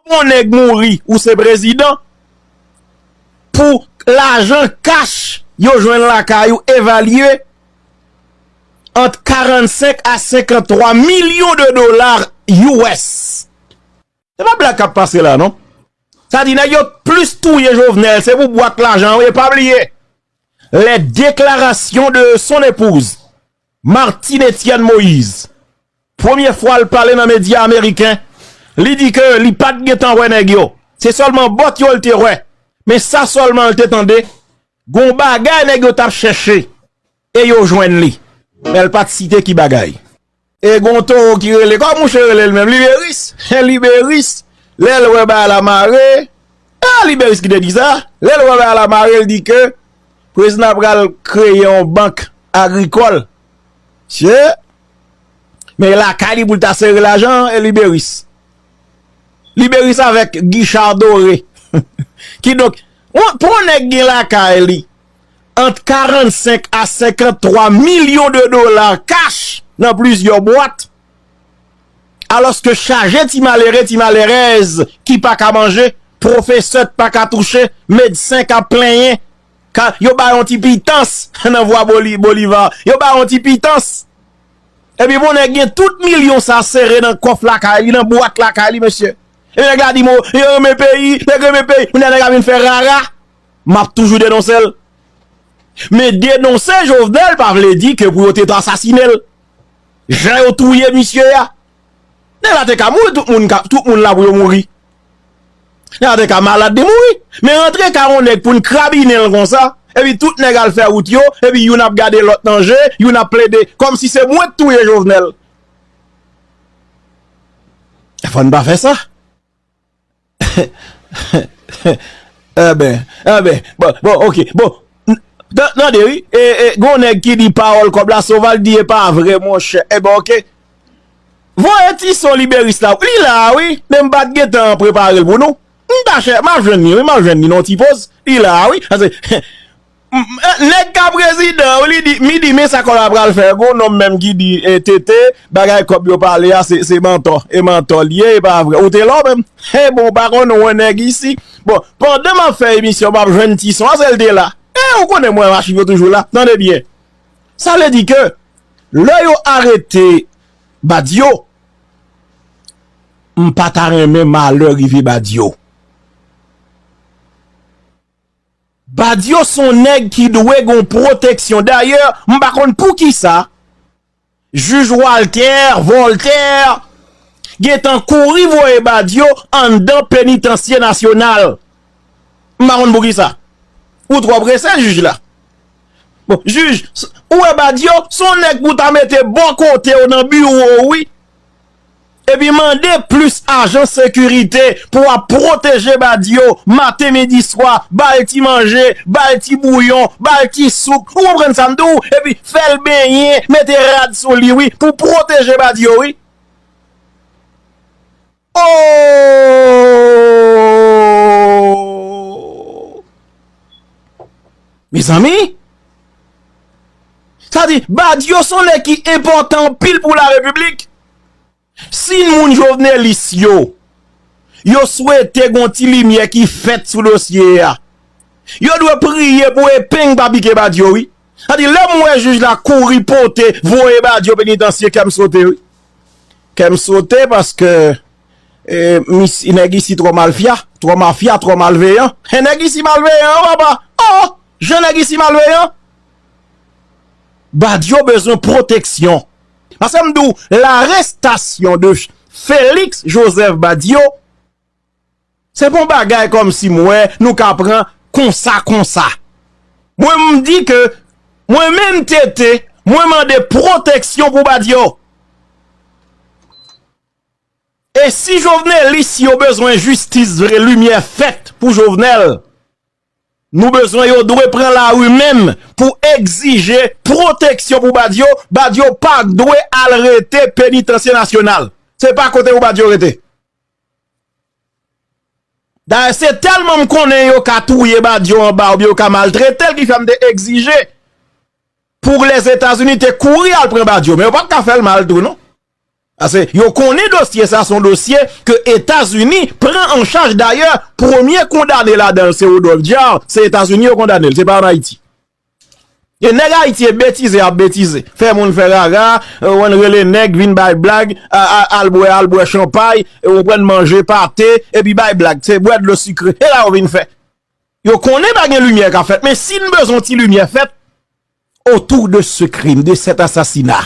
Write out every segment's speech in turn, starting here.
Yon nèg mouri ou se prezidan pou lajan kach yo jwenn lakay ou evalye ant 45 a 53 milyon de dola us. Se pa blag kap pase la non. Sa di nèg yo t plis touye Jovenel se pou bwat lajan wi e pa bliye les déclarations de son épouse Martine Etienne Moise, premye fwa l pale nan medya ameriken, li di ke li pa t gentan wè nèg yo, se sèlman bòt yo l te wè, men sa sèlman l te tande, gon bagay nèg yo t ap chèche e yo jwenn li, men l pa t site ki bagay. E gon towo ki rele, kòman mouche rele l menm, Liberis, e Liberis lè l wè bagay la mare, e Liberis ki te di sa, lè l wè bagay la mare l di ke. Prezidan pral kreye yon bank agrikòl se men lakay li pou l ta sere lajan e liberis liberis avèk gichar dore kidonk pou yon nèg gen lakay li ant 45 a 53 milyon de dola kach nan plizyè bwat. Alòske chaje ti malere, ti malerèz ki pa ka manje, pwofesè k pa ka touche, medsen k ap plenyen, k a, yo ba yon ti pitans nan vwa Boliva, yo ba yon ti pitans. Epi bon nèg gen tout milyon sa sere nan kòf lakay li, nan bwat lakay li mesye. Epi nèg la di mo, yo renmen peyi, nèg renmen peyi. Kounye a nèg la vin fè rara. M ap toujou denonse l. Men denonse Jovenel pa vle di ke pou yo te asasine l. Jan yo touye misye a. Nèg la te ka mouri tout moun ka tout moun la pou yo mouri. Nèg la te ka malad li mouri. Men rantre ka yon nèg pou n krabinen l konsa. Epi tout nèg al fè wout yo. Epi youn ap gade lòt nan je. Youn ap plede. Kòm si se mwen k touye Jovenel. Fò n pa fè sa. Enben, enben, bon, bon, ok, bon, tande wi, e, e, gon nèg ki di pawòl kòb la Soval di e pa vre monchè, enben ok, voye ti son Liberis la, li la a wi, men m pa t gen tan prepare l pou nou, m ta chè, m ap jwenn li wi, m ap jwenn li nan yon ti poz, li la a wi, ase, he. Neg ka prezidan wi li di midi men sa kola pral fè gon nonm menm ki di TT bagay kob yo pale a se mantò e mantò li ye e pa vre ou te la w menm eh bon ou pa konn ou neg isi bon pandan map fè emisyon map jwenn ti son a sel te la eh ou konnen mwen achiv yo toujou la tande byen sa vle di ke lè yo arete Badio m pata renmen malè rive Badio. Badio son nèg ki dwe gon pwoteksyon dayè m pa konn poukisa jij Walter Voltaire gentan kouri voye Badio anndan penitansye nasyonal m pa konn poukisa ou twò prese jij la bon jij ou wè Badio son nèg pou ta mete bò kotew nan biwo ou wi. Epi mande plis ajan sekirite pou ap pwoteje Badio maten midi swa, ba l ti manje, ba l ti bouyon, ba l ti soup, ou konprann sa m di w, epi fè l benyen, mete rad sou li wi, pou pwoteje Badio wi. Oooooooooooo Mezanmi Sa di Badio son nèg ki enpòtan anpil pou la repiblik Si moun jovenelis yo Yo swete gon ti limyè ki fèt sou dosye a Yo dwe priye pou epeng pa pike Badio wi Sa di lèm wè jij la kouri pote voye Badio penitansye kèm sote wi. Kèm sote paske misy nèg isi trò malfya, trò mafya, trò malveyan. He nèg isi malveyan papa oh jan nèg isi malveyan. Badio bezwen pwoteksyon. Pasem di w larestasyon de Felix Joseph Badio. Se pa yon bagay kòm si m wè nou ka pran konsa konsa. Mwen m di ke mwen menm TT, mwen mande pwoteksyon pou Badio. E si Jovenelis yo bezwen jistis vre, limyè fèt pou Jovenel, nou bezwen yo dwe pran lari menm pou egzije pwoteksyon pou Badio, Badio pa dwe al rete penitansye nasyonal. Se pa kote pou Badio rete. Dayè se tèlman m konnen yo ka touye Badio anba oubyen yo ka maltrete l ki fè m te egzije pou Lèzetazini te kouri al pran Badio men yo pa t ka fè l mal tou non. Pase yo konnen dosye sa son dosye ke Etazini pran an chaj dayè premye kondane ladan l se Rodolphe Jaar se Etazini yo kondane l se pa an Ayiti. E nèg ayiti e betize ap betize fè moun fè rara wan rele nèg vin bay blag al bwè al bwè chanpay ou konprann manje pate epi bay blag se bwè dlo sikre e la yo vin fè yo konnen pa gen limyè kap fèt men si n bezwen ti limyè fèt otou de se krim de sèt asasina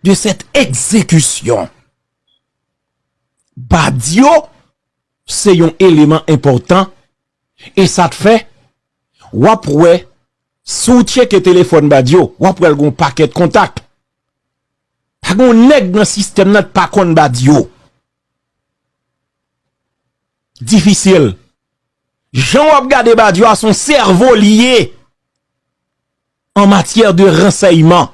de sèt egzekisyon badyo se yon eleman enpòtan E sa t fè w ap wè si w tcheke telefòn Badio w ap wè l gen yon pakèt kontak. Pa gen yon nèg nan sistèm nan k pa konn Badio. Difisil. Jan w ap gade Badio a se yon sèvo li ye an matyè de ransèyman.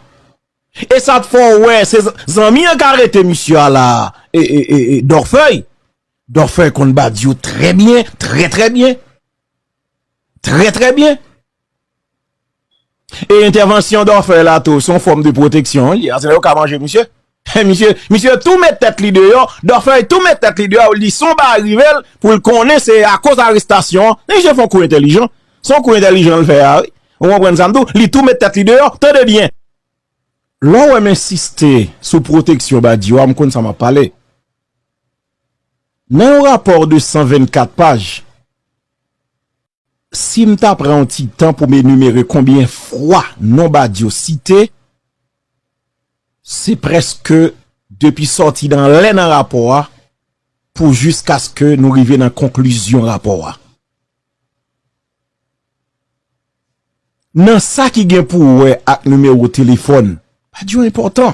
E sa t fè w wè se zanmi an k arete misye a la a, Dòfèy. Dorfer konn Badio trè byen, trè trè byen. Trè trè byen. E entèvansyon Dorfer la tou, son fòm de pwoteksyon li. Asè yo ka manje misye. He misye, misye tou met tèt li deyò, Dorfer tou met tèt li deyò, li son bagay rive l pou l konnen se akoz arestasyon an. He misye fon kou entèlijan. Son kou entèlijan l fè a wi. Ou konprann sa m di w? Li tou met tèt li deyò. Tande byen. Lè w wè m ensiste sou pwoteksyon Badio a, m konn sa m ap pale. Nan yon rapò de 124 paj, si m ta pran yon ti tan pou m enimere konbyen fwa non Badio site, se prèske depi sòti nan lè nan rapò a pou jiskaske nou rive nan konklizyon rapò a. Nan sa ki gen pou wè ak nimewo telefòn, Badio enpòtan.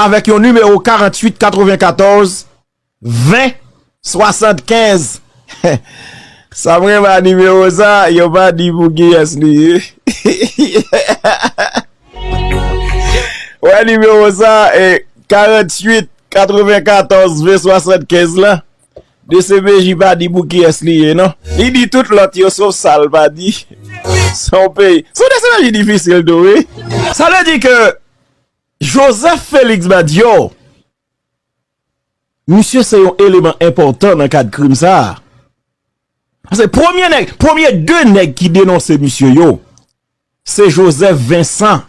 avèk yon nimewo 48 94 20 75 sa m renmen a nimewo sa yo pa di pou kiyès li ye ou wè nimewo sa 48 94 20 75 la dcpj pa di pou kiyès li ye non li di tout lòt yo sof sa l pa di son peyi son dcpj difisil tou wi sa vle di ke Joseph Felix Badio, misye se yon eleman enpòtan nan kad krim sa a. Pase premye nèg, premye 2 nèg ki denonse misye yo, se Joseph Vincent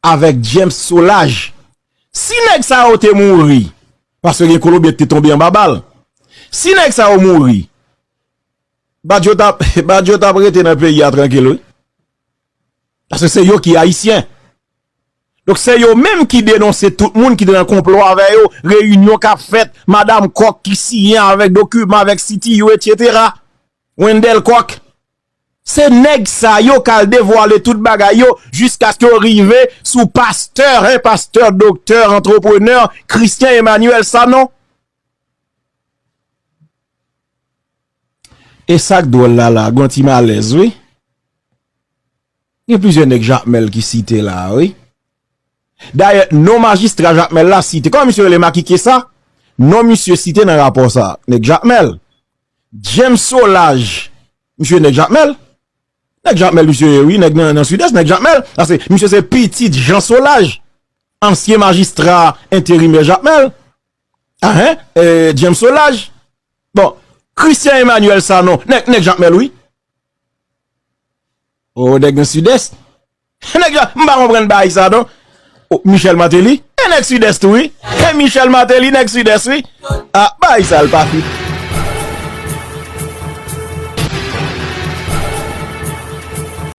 avèk James Solage. Si nèg sa yo te mouri, pase gen Kolonbyen ki te tonbe anba bal, si nèg sa yo mouri, Badio ta, Badio ta ap rete nan peyi a trankil wi. Pase se yo ki Ayisyen. Donk se yo menm ki denonse tout moun ki te nan konplo avè yo, reyinyon kap fèt, madam Kòk ki siyen avèk dokiman avèk CTU etc. Wendel Kòk. Se nèg sa yo kal devwale tout bagay yo jiskaske yo rive sou pastè, hein pastè, doktè, antreprenè, Christian Emmanuel Sanon. Esak dwòl la la, gon ti malèz wi. Gen plizyè nèg Jakmèl ki site la a wi. Dayè, non majistra Jakmèl la site. Kòman misye rele Makikye sa? Non misye site nan rapò sa a. Nèg Jakmèl. James Solaj, misye nèg Jakmèl. Nèg Jakmèl misye ye wi, nèg nan Sidès, nèg Jakmèl. Ase, misye se pitit Jean Solaj, ansyen majistra enterimè Jakmèl. Ahen, James Solaj. Bon, Christian Emmanuel Sanon, nèg Jakmèl wi. Oh nèg nan sidès Nèg yo m pa konprann baay sa non Oh Michel Martelly e nèg sidès tou wi E Michel Martelly nèg sidès wi A baay sa l pa fit